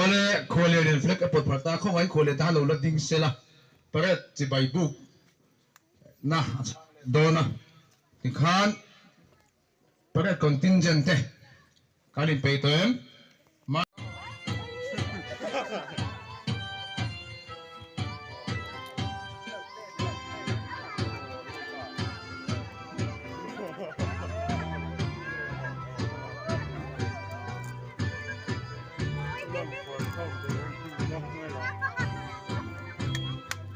Awle khuallian in flag a pawt phalh ta khaw ngain khuallian tan a lo la ding sela parade chibai buk. na dawn a tikhan parade contingent te kan inpeih tawh em?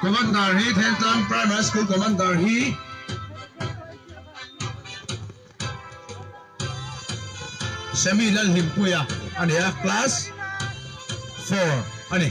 Commander hi Thengtlang Primary School Commander hi Semi Lalhlimpuia a ni a, Class four a ni.